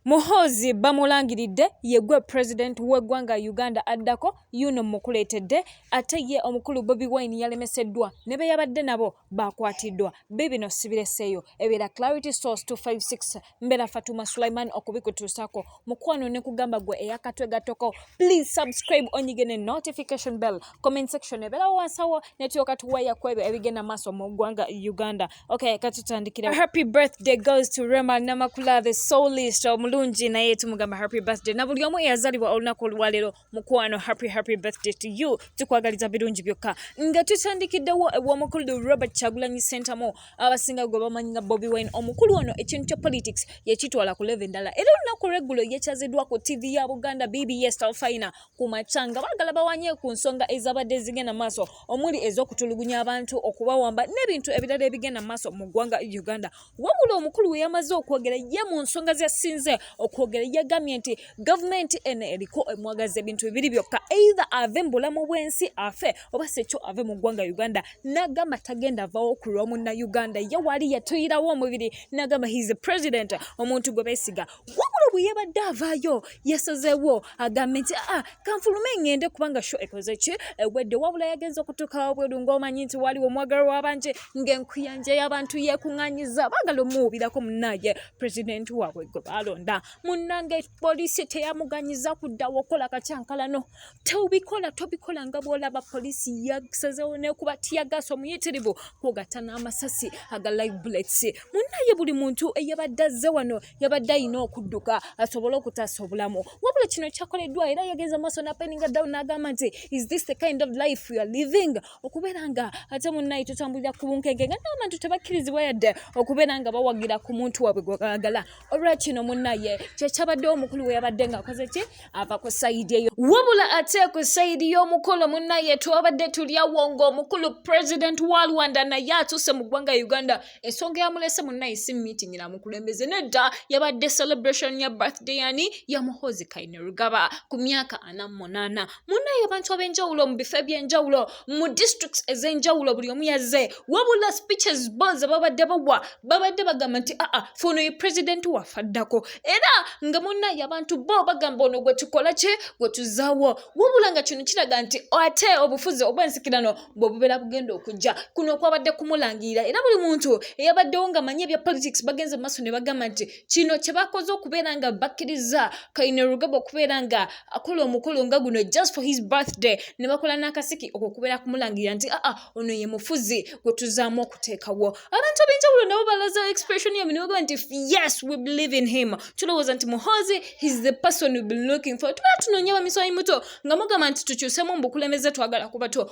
Muhoozi bamulangiridde ye gwe president w'eggwanga Uganda addako, yuuno mmukuleetedde ate ye omukulu Bobi Wine yalemeseddwa ne be yabadde nabo baakwatiddwa. Biibino sibireseeyo, ebeera Clarity Source 256, mbeera Fatuma Sulaiman okubikutuusaako. Mukwano nekugamba gwe eya katwe gattoko, please subscribe onyige ne notification bell. Comment section ebeerawo wansi awo ne tulyoka tuweeya kwebyo ebigenda maaso mu ggwanga Uganda. okay katutandikira happy birthday goes to rema namakula the soulist omulungi naye tumugamba happy birthday na buli omu eyazalibwa olunaku olwaleero mukwano happy happy birthday to you tukwagaliza birungi byokka nga tutandikiddewo ew'omukulu robert kyagulanyi sentamu abasinga gwe bamanyi nga bobi wine omukulu ono ekintu kya politics yekitwala ku leve endala era olunaku lweggulo yekyaziddwa ku tv ya buganda bbs talfina ku makya nga baagala bawanye ku nsonga ezabadde zigenda maaso omuli ez'okutulugunya abantu okubawamba n'ebintu ebirala ebigenda maaso mu ggwanga uganda wabula omukulu we yamaze okwogera ye mu nsonga zesinze okwogera yagambye nti gavumenti eno eriko emwagaza ebintu bibiri byokka either ave mu bulamu bw'ensi afe oba sekyo ave mu ggwanga uganda n'agamba tagenda avawo ku lwa munna uganda ye waali yatuyirawo omubiri n'agamba his president omuntu gwe beesiga wabula bwe yabadde avaayo yasazeewo agambe nti aa ah, kanfulume ŋŋende kubanga sho ekoze ki ewedde wabula yagenze okutuuka wabweru ng'omanyi nti waaliwo omwagala w'abanje ng'enkuyanja y'abantu yeekuŋŋanyiza baagala omuwubirako munnaye pulezidenti waabwe gwe baalonda munnange poliisi teyamuganyiza kuddawo okukola katyankalano tobikola tobikola nga bwolaba poliisi yasazewo nekuba tiyagaasa omuyitirivu kwogatta n'amasasi aga live bullets munaye buli muntu eyabadde azze wano yabadde alina okudduka asobole okutaasa obulamu wabula kino kyakoleddwa era yagenza maaso napeninga down n'agamba nti is this the kind of life we are living okubeera nga ate munaye tutambulira ku bunkenke nga n'abantu tebakkirizibwa yadde okubeera nga bawagira ku muntu waabwe gwebagala olwakino munaye kyekyabaddewo omukulu weyabadde ngaakoze ki ava ku sayidi eyo wabula ate ku sayidi y'omukolo munnaye twabadde tulyawo ng'omukulu president wa rwanda naye atuuse mu ggwanga uganda ensonga yamulese munnaye si meeting namukulembeze nedda yabadde celebration ya birthday yani ya muhozi kainerugaba ku myaka ana munaana munnaye abantu ab'enjawulo mu bifo eby'enjawulo mu districts ez'enjawulo buli omu yazze wabula speeches bo ze babadde bagwa babadde bagamba nti aa ah, ah, fe ono ye president waffe addako era nga munnaye abantu bo bagamba ono gwe tukola kye gwe tuzaawo wabula nga kino kiraga nti ate obufuzi obw'ensikirano bwe bubeera bugenda okujja kuno okwabadde kumulangirira era buli muntu eyabaddewo ng'amanyi ebya politics bagenze mu maaso ne bagamba nti kino kye bakoze okubeera nga bakkiriza kaine rugaba okubeera nga akola omukolo nga guno just for his birthday ne bakola n'akasiki okwo okubeera kumulangirira nti aa ono ye mufuzi gwe tuzaamu okuteekawo abantu ab'enjawulo nabo balaza expression yabwe ne bagamba nti yes we believe in him tulowooza nti muhoozi his the person we be looking for tuba tunoonya bamiswayi muto nga mugamba nti tukyusemu mu bukulembeze twagala kuba to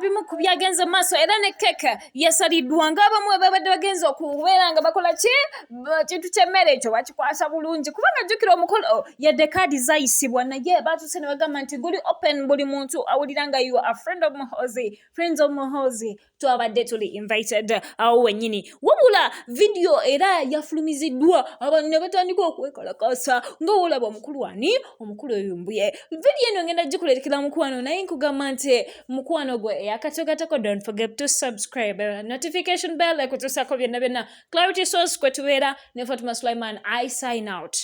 ebimu ku byagenze mu maaso era ne keke yasaliddwa ng'abamu ababadde bagenze okubeera nga bakola ki ekintu ky'emmere ekyo bakikwasa bulungi kubanga jjukira omukolo oh, yadde kaadi zayisibwa naye baatuuse ne bagamba nti guli open buli muntu awulira nga you are friend of muhozi friends of muhozi twabadde tuli invited awo wennyini wabula vidiyo era yafulumiziddwa abantu ne batandika okwekalakasa nga wolaba omukulu ani omukulu oyumbuye vidiyo eno ngenda gikulerekera mukwano naye nkugamba nti mukwano gwe eyakatogatako don't forget to subscribe notification bell ekutuusako byonna byonna Clarity Source kwe tubeera ne Fatuma Sulaiman. I sign out.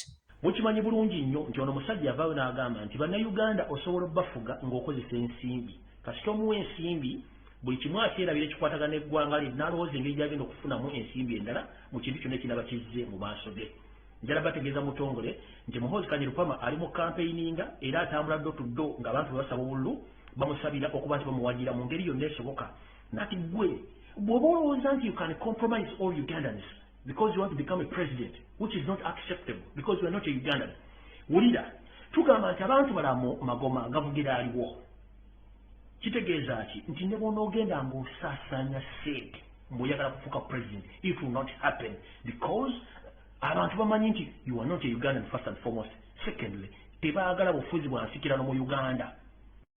Mukimanyi bulungi nnyo nti ono musajja yavaayo n'agamba nti bannayuganda osobola obafuga ng'okozesa ensimbi kasita omuwa ensimbi buli kimu akyerabira ekikwatagana eggwanga lye nalowooza engeri gyagenda okufunamu ensimbi endala mu kintu kyonna ekinaba kizze mu maaso ge njala bategeeza mutongole nti muhoozi kanyerupama ali mu kampeyininga era atambula ddo tuddo ng'abantu bwe basaba obululu bamusabira okuba nti bamuwagira mu ngeri yonna esoboka nati gwe bwoba olowooza nti you can compromise all ugandans because you want to become a president which is not acceptable because you are not a ugandan wulira tugamba nti abantu bala magoma gavugira aliwo kitegeeza ki nti ne bwonaogenda ngaosaasaanya sente mboyagala kufuuka president it will not happen because abantu bamanyi nti you are not a ugandan first and foremost secondly tebaagala bufuzi bwansikirano mu uganda